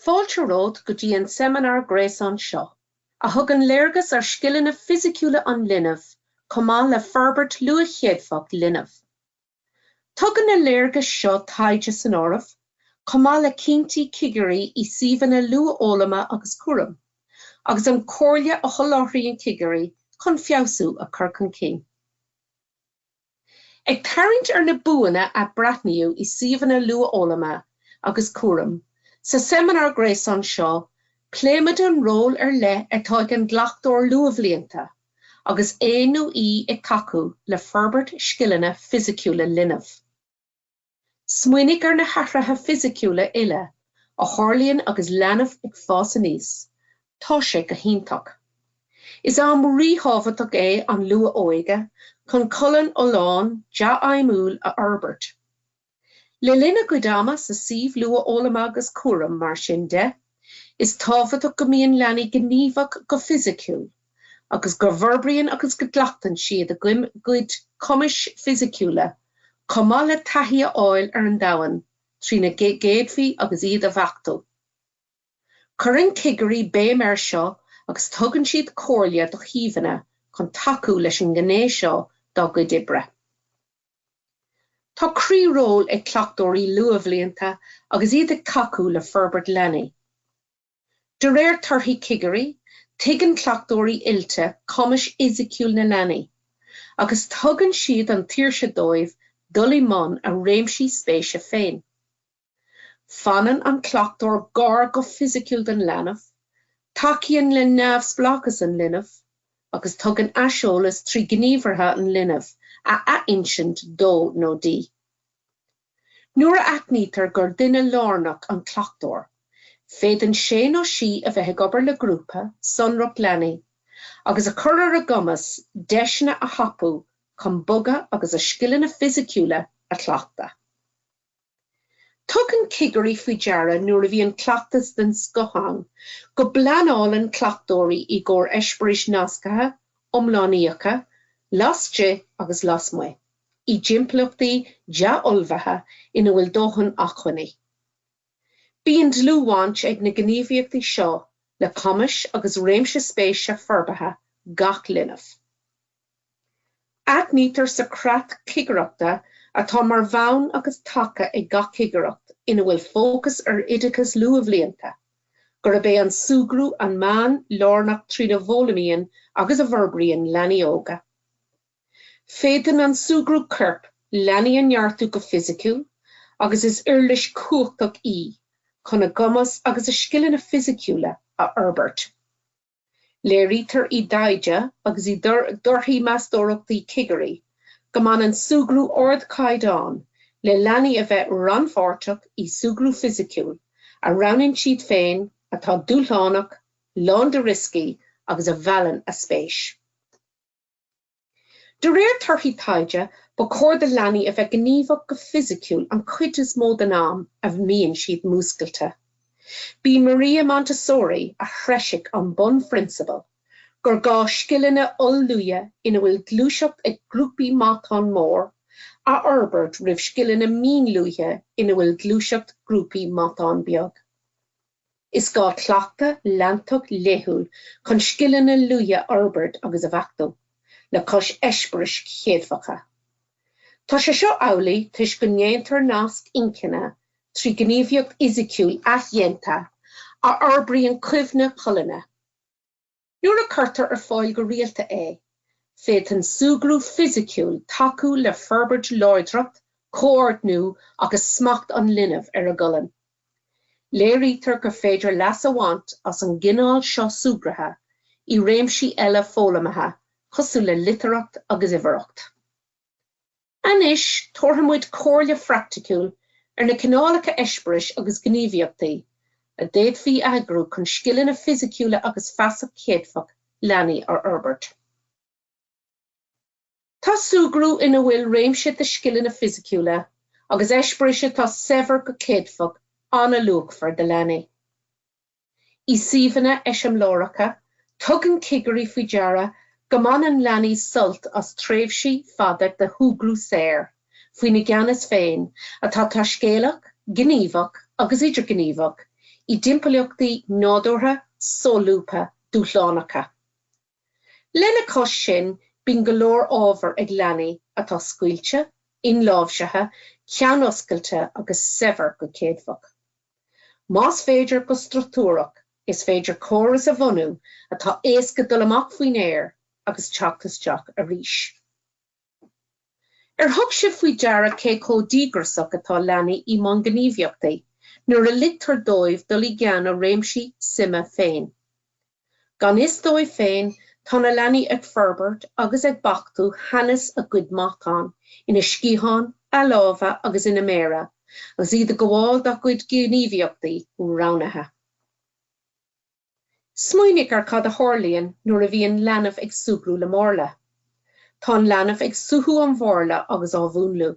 Fáilte romhat go dtí an seimineár gréasáin seo, a thugann léargas ar scileanna fisiciúla an linbh chomh maith le forbairt luathchéadfach linbh. Tugann na léargais seo taighde san áireamh, chomh maith le cinntí cigirí i suíomhanna luathfhoghlama agus cúraim, agus an comhairle a sholáthraíonn cigirí chun feabhsú a chur chun cinn. Ag tarraingt ar na buanna a breathnaíodh i suíomhanna luathfhoghlama agus cúraim, sa seimineár gréasáin seo pléimid an ról ar leith atá ag an gcleachtóir luathbhlianta, agus é nó í ag tacú le forbairt scileanna fisiciúla linbh. Smaoinigh ar na hathruithe fisiciúla uile a tharlaíonn agus leanbh ag fás aníos, tá sé go hiontach! Is am ríthábhachtach é an luath-óige chun colainn fholláin, dea-fheidhmiúil a fhorbairt. Le linn a gcuid ama sa suíomh luathfhoghlama agus cúraim, mar sin de, is tábhachtach go mbíonn leanaí gníomhach go fisiciúil, agus go bhforbraíonn agus go gcleachtann siad a gcuid cumais fisiciúla, chomh maith le taithí a fháil ar an domhan trína gcéadfaí agus iad a bheachtú. Cuireann cigirí béim ar seo agus tugann siad comhairle do shuíomhanna chun tacú leis an ngné seo dá gcuid oibre. Tá croí-ról ag cleachtóirí luathbhlianta agus iad ag tacú le forbairt leanaí. De réir torthaí cigirí, tuigeann cleachtóirí oilte cumas fisiciúil na leanaí, agus tugann siad an tsaoirse dóibh dul i mbun a réimsí spéise féin. Fanann an cleachtóir gar go fisiciúil don leanbh, tacaíonn le neamhspleáchas an linbh, agus tugann aiseolas trí ghníomhartha an linbh a athinsint dó nó di. Nuair a aithnítear gur duine lárnach an cleachtóir, féadann sé nó sí a bheith ag obair le grúpa sonrach leanaí, agus a chur ar a gcumas deiseanna a thapú chun bogadh agus a scileanna fisiciúla a chleachtadh. Tugann cigirí faoi deara nuair a bhíonn cleachtas den scoth ann, go bpleanálann cleachtóirí i gcomhair eispéiris nasctha, iomlánaíocha, laistigh agus lasmuigh, i dtimpeallachtaí dea-ullmhaithe ina bhfuil dóthain acmhainní. Bíonn dlúthbhaint ag na gníomhaíochtaí seo le cumais agus réimse spéise forbartha gach linbh. Aithnítear sa creat cigireachta atá mar bhonn agus taca ag gach cigireacht ina bhfuil fócas ar oideachas luathbhlianta, gurb é an súgradh an meán lárnach trína bhfoghlaimíonn agus a bhforbraíonn leanaí óga. Féadann an súgradh coirp leanaí a neartú go fisiciúil agus is uirlis chumhachtach í chun a gcumas agus a scileanna fisiciúla a fhorbairt. Léirítear i dtaighde agus i dtorthaí meastóireachtaí cigirí go mbaineann súgradh ardchaighdeáin le leanaí a bheith rannpháirteach i súgradh fisiciúil a roghnaíonn siad féin atá dúshlánach, lán de rioscaí agus a mheallann a spéis. De réir torthaí taighde, ba chóir do leanaí a bheith gníomhach go fisiciúil an chuid is mó den am a mbíonn siad múscailte. B'í Maria Montessori a threisigh an bunphrionsabal gur gá scileanna oll-luaile ina bhfuil gluaiseacht ag grúpaí matán mór a fhorbairt roimh scileanna mín-luaile ina bhfuil gluaiseacht grúpaí matán beag. Is gá cleachtadh leantach laethúil chun scileanna luaile a fhorbairt agus a bheachtú, le cois eispéiris chéadfacha. Tá sé seo amhlaidh toisc go ndéantar nasc inchinne trí ghníomhaíocht fhisiciúil athdhéanta a fhorbraíonn cuimhne cholainne. Nuair a cuirtear ar fáil go rialta é, féadann súgradh fisiciúil tacú le forbairt láidreacht, comhordnú agus smacht an linbh ar a gcolainn. Léirítear gur féidir leas a bhaint as an gcineál seo súgartha i réimsí eile foghlamaithe cosúil le litearthacht agus uimhearthacht. Anois, tabharfaidh muid comhairle phraicticiúil ar na cineálacha eispéiris agus gníomhaíochtaí a d'fhéadfaí a eagrú chun scileanna fisiciúla agus feasacht chéadfach leanaí a fhorbairt. Tá súgradh ina bhfuil réimse de scileanna fisiciúla agus eispéiris atá saibhir go céadfach an-luachmhar do leanaí. I suíomhanna eiseamláireacha, tugann cigirí faoi deara go mbaineann leanaí sult as tréimhsí fada de shúgradh saor, faoina gceannas féin, atá taiscéalach, gníomhach agus idirghníomhach, i dtimpeallachtaí nádúrtha, solúbtha, dúshlánacha. Lena cois sin, bíonn go leor ábhar ag leanaí atá scaoilte, inláimhsithe, ceannoscailte agus saibhir go céadfach. Más féidir go struchtúrach, is féidir córas a bhunú atá éasca dul amach faoin aer agus teacht isteach arís. Ar thug sibh faoi deara cé chomh díograsach atá leanaí í mbun gníomhaíochtaí nuair a ligtear dóibh dul i gceann a réimsí suime féin? Gan fhios dóibh féin, tá na leanaí ag forbairt agus ag beachtú teannas a gcuid matán ina sciatháin, a lámha agus ina méara agus iad ag gabháil dá gcuid gníomhaíochtaí roghnaithe. Smaoinigh ar cad a tharlaíonn nuair a bhíonn leanbh ag súgradh le marla. Tá an leanbh ag suathadh an mharla agus á mhúnlú.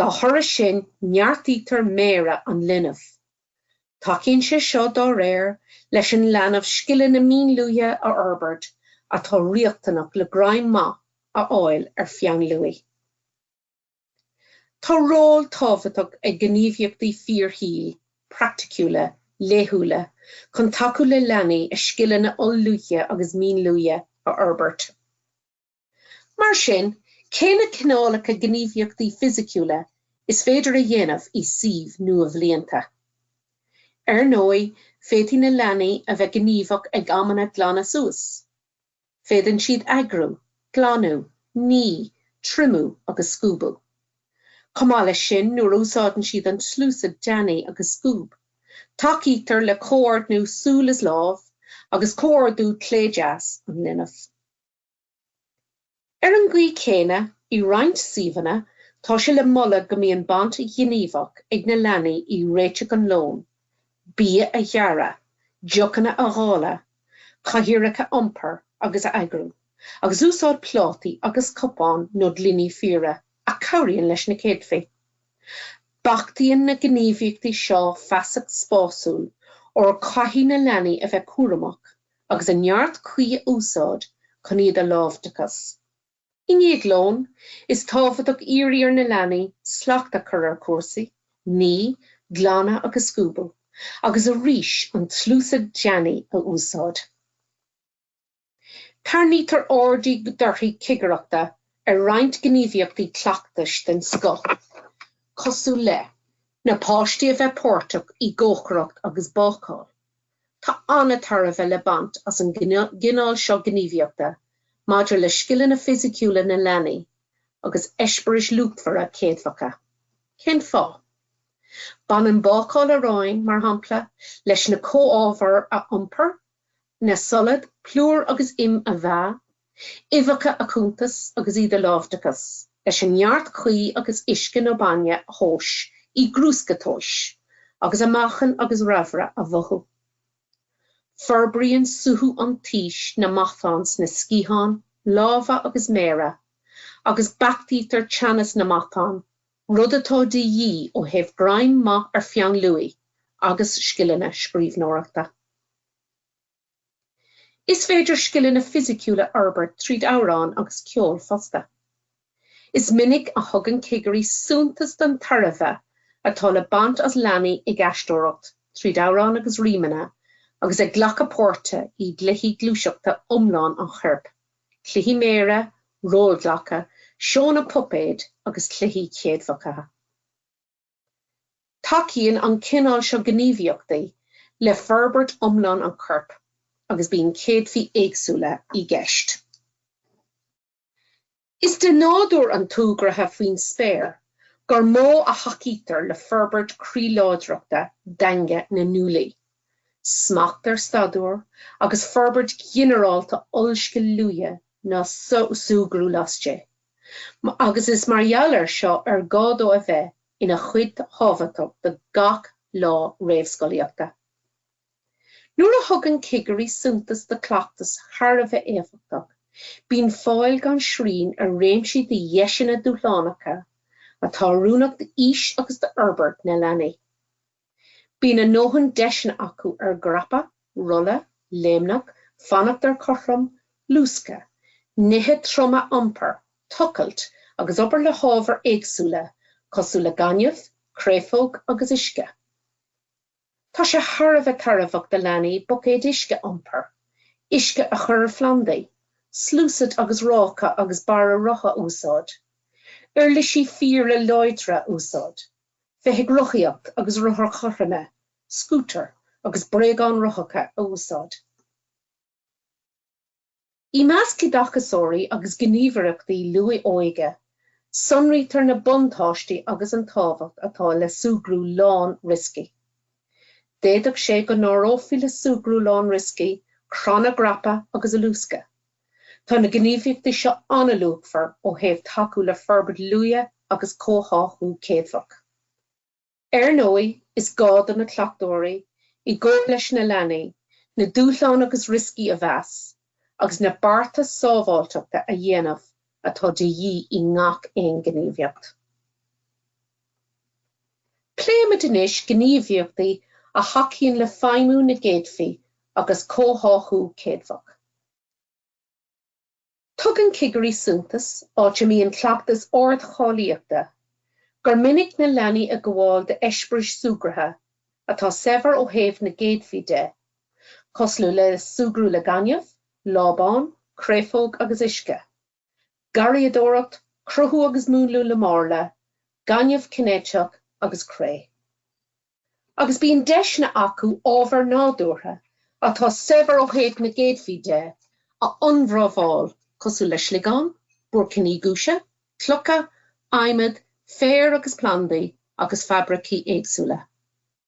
Dá thoradh sin neartaítear méara an linbh. Tacaíonn sé seo, dá réir, leis an leanbh scileanna mínluaile a fhorbairt atá riachtanach le greim maith a fháil ar pheann luaidhe. Tá ról tábhachtach ag gníomhaíochtaí fíorshaoil praiticiúla laethúla chun tacú le leanaí a scileanna oll-luaile agus mínluaile a fhorbairt. Mar sin, cé na cineálacha gníomhaíochtaí fisiciúla is féidir a dhéanamh i suímh luathbhlianta? Ar ndóigh, féadfaidh na leanaí a bheith gníomhach ag amanna glanadh suas. Féadann siad eagrú, glanadh, ní, triomú agus scuabadh. Chomh maith leis sin, nuair a úsáideann siad an tsluasaid deannaigh agus scuab, tacaítear le comhordnú súl is lámh, agus comhordú clé-deas an linbh. Ar an gcaoi chéanna, i roinnt suíomhanna, tá sé le moladh go mbíonn baint ghníomhach ag na leanaí i réiteach an lóin, bia a ghearradh, deochanna a dháileadh, cathaoireacha a iompar agus a eagrú, agus úsáid plátaí agus cupán nó gloiní fíora, a chabhraíonn leis na céadfaí. Beachtaíonn na gníomhaíochtaí seo feasacht spásúil, óir caithfidh na leanaí a bheith cúramach agus an neart cuí a úsáid chun iad a láimhseáil. I ndiaidh lóin, is tábhachtach iarraidh ar na leanaí slacht a chur ar chúrsaí, ní, glanadh agus scuabadh, agus arís an tsluasaid deannaigh a úsáid. Tarraingítear aird i dtorthaí cigireachta ar roinnt gníomhaíochtaí cleachtais den scoth, cosúil le. Na páistí a bheith páirteach i gcócaireacht agus bácáil. Tá an-tairbhe le baint as an gcineál seo gníomhaíochta maidir le scileanna fisiciúla na leanaí agus eispéiris luachmhara chéadfacha. Cén fáth? Baineann bácáil aráin, mar shampla, leis na comhábhair a iompar, na solaid, plúr agus im, a mheá, uibheacha a chuntas agus iad a láimhdeachas leis an neart cuí agus uisce nó bainne a thomhas i gcrúsca tomhais agus a meáchan agus raimhre a mhothú. Forbraíonn suaitheadh an taois na matáin sna sciatháin, lámha agus méara agus beachtaítear teannas na matán, rud atá de dhíth ó thaobh greim maith ar pheann luaidhe agus scileanna scríbhneoireachta. Is féidir scileanna fisiciúla a fhorbairt tríd amhráin agus ceol fosta. Is minic a thugann cigirí suntas don tairbhe atá le baint as leanaí ag aisteoireacht tríd amhráin agus rímeanna agus ag glacadh páirte i gcluichí gluaiseachta iomlán an choirp, cluichí méire, rólghlacadh, seónna puipéid agus cluichí céadfacha. Tacaíonn an cineál seo gníomhaíochtaí le forbairt iomlán an choirp agus bíonn céadfaí éagsúla i gceist. Is de nádúr an tsúgartha faoin spéir gur mó a thacaítear le forbairt croí-láidreachta daingne na nguaillí, smacht ar staidiúir agus forbairt ghinearálta ollscil luaile ná súgradh laistigh. agus is mar gheall air seo ar gá dó a bheith ina chuid thábhachtach de gach lá réamhscolaíochta. Nuair a thugann cigirí suntas do chleachtas thar a bheith éifeachtach, bíonn fáil gan srian ar réimsí de dheiseanna dúshlánacha atá oiriúnach d'aois agus d'fhorbairt na leanaí. Bíonn a ndóthain deiseanna acu ar dhreapadh, rolladh, léimneach, fanacht ar chothrom, luascadh, nithe troma a iompar, tochailt, agus obair le hábhair éagsúla cosúil le gaineamh, créafóg agus uisce. Tá sé thar a bheith tairbheach do leanaí buicéid uisce a iompar, uisce a chur ar phlandaí, sluasaid agus ráca agus barra rotha a úsáid, uirlisí fíora láidre a úsáid, feithicil rothaíocht agus rothair chothroime, scútair agus bréagáin rothacha a úsáid. I measc oideachasóirí agus gníomhaireachtaí luath-óige, sonraítear na buntáistí agus an tábhacht atá le súgradh lán-rioscaí. D'fhéadfadh sé go n-áireofaí le súgradh lán-rioscaí crann a dhreapadh agus luascadh. Tá na gníomhaíochtaí seo an-luachmhar ó thaobh tacú le forbairt luaile agus comhtháthú céadfach. Ar ndóigh, is gá do na cleachtóirí, i gcomhar leis na leanaí, na dúshláin agus rioscaí a mheas, agus na bearta sábháilteachta a dhéanamh atá de dhíth i ngach aon ghníomhaíocht. Pléimid anois gníomhaíochtaí a thacaíonn le feidhmiú na gcéadfaí agus comhtháthú céadfach. Tugann cigirí suntas, áit a mbíonn cleachtas ardcháilíochta, gur minic na leanaí ag gabháil d'eispéiris súgartha atá saibhir ó thaobh na gcéadfaí de, cosúil le súgradh le gaineamh, lábán, créafóg agus uisce. garraíodóireacht, cruthú agus múnlú le marla, gaineamh cinéiteach agus cré. Agus bíonn deiseanna acu ábhair nádúrtha, atá saibhir ó thaobh na gcéadfaí de, a ionramháil, cosúil le sliogáin, buaircíní giúise, clocha, adhmad, féir agus plandaí, agus fabraicí éagsúla.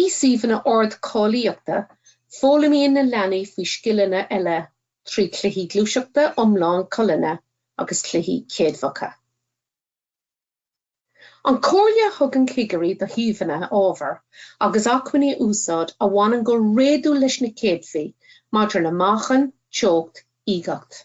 I suíomhanna ardcháilíochta, foghlaimíonn na leanaí faoi scileanna eile trí chluichí gluaiseachta iomlán colainne agus cluichí céadfacha. An chomhairle a thugann cigirí do shuíomhanna, ábhair agus acmhainní a úsáid a bhaineann go réadúil leis na céadfaí maidir le meáchan, teocht, uigeacht.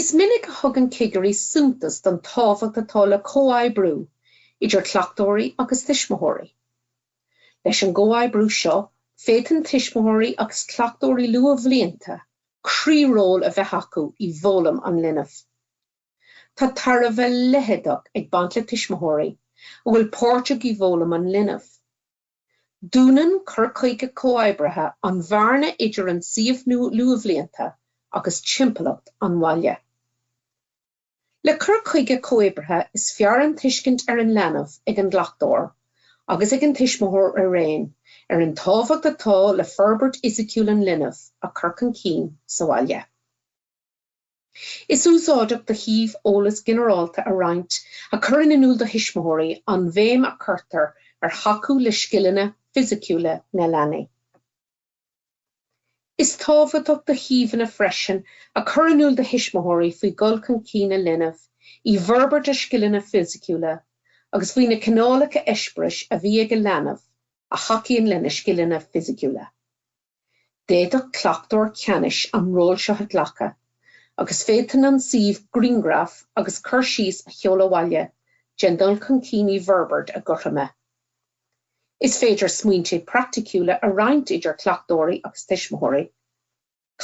Is minic a thugann cigirí suntas don tábhacht atá le comhoibriú idir cleachtóirí agus tuismitheoirí. Leis an gcomhoibriú seo, féadann tuismitheoirí agus cleachtóirí luathbhlianta croí-ról a bheith acu i bhfoghlaim an linbh. Tá tairbhe leitheadach ag baint le tuismitheoirí a bheith páirteach i bhfoghlaim an linbh. Dúnann cur chuige comhoibrithe an bhearna idir an suíomh luathbhlianta agus timpeallacht an bhaile. Le cur chuige comhoibrithe is fearr an tuiscint ar an leanbh ag an gcleachtóir agus ag an tuismitheoir araon ar an tábhacht atá le forbairt fhisiciúil an linbh a chur chun cinn sa bhaile. Is úsáideach do shuíomh eolas ginearálta a roinnt a chuireann in iúl do thuismitheoirí an bhéim a chuirtear ar thacú le scileanna fisiciúla na leanaí. Is tábhachtach do shuíomhanna freisin a chur in iúl do thuismitheoirí faoi dhul chun cinn a linbh i bhforbairt a scileanna fisiciúla agus faoi na cineálacha eispéiris a bhí ag a leanbh a thacaíonn lena scileanna fisiciúla. D'fhéadfadh cleachtóir ceannais an ról seo a ghlacadh, agus féadann an suíomh grianghraf agus cur síos a sheoladh abhaile den dul chun cinn i bhforbairt a gcothroime. Is féidir smaointe praiticiúla a roinnt idir cleachtóirí agus tuismitheoirí.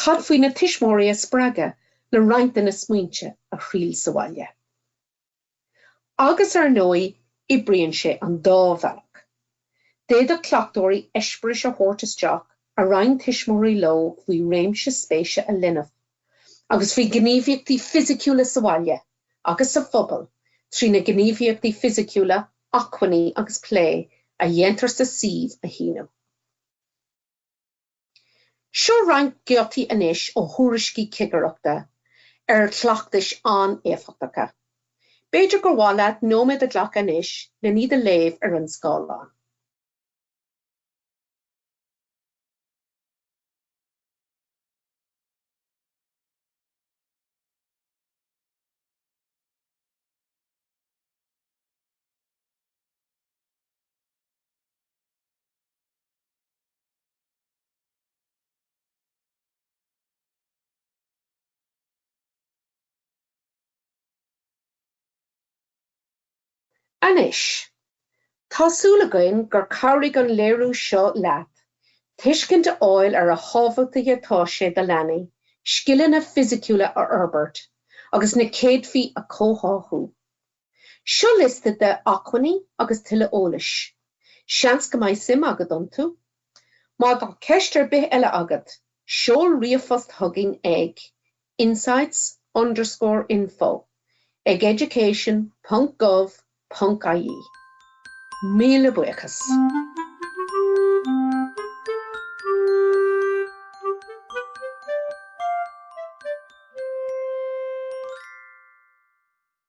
Cad faoi na tuismitheoirí a spreagadh le roinnt de na smaointe a thriail sa bhaile? Agus ar ndóigh, oibríonn sé an dá bhealach. D'fhéadfadh cleachtóirí eispéiris a thabhairt isteach a roinn tuismitheoirí leo faoi réimse spéise a linbh agus faoi ghníomhaíochtaí fisiciúla sa bhaile agus sa phobal trí na gníomhaíochtaí fisiciúla, acmhainní agus plé a dhéantar sa suíomh a shíneadh. Seo roinnt giotaí anois ó thuairiscí cigireachta ar chleachtais an-éifeachtacha. B'fhéidir gur mhaith leat nóiméad a ghlacadh anois len iad a léamh ar an scáileán. Anois, tá súil againn gur chabhraigh an léiriú seo leat tuiscint a fháil ar a thábhachtaí atá sé do leanaí scileanna fisiciúla a fhorbairt agus na céadfaí a chomhtháthú. Seo liosta de acmhainní agus tuilleadh eolais. Seans go mbeidh suim agat iontu. Má tá ceist ar bith eile agat, seol ríomhphost chugainn ag insights underscore info ag education ponc gov ponc ie. Míle buíochas!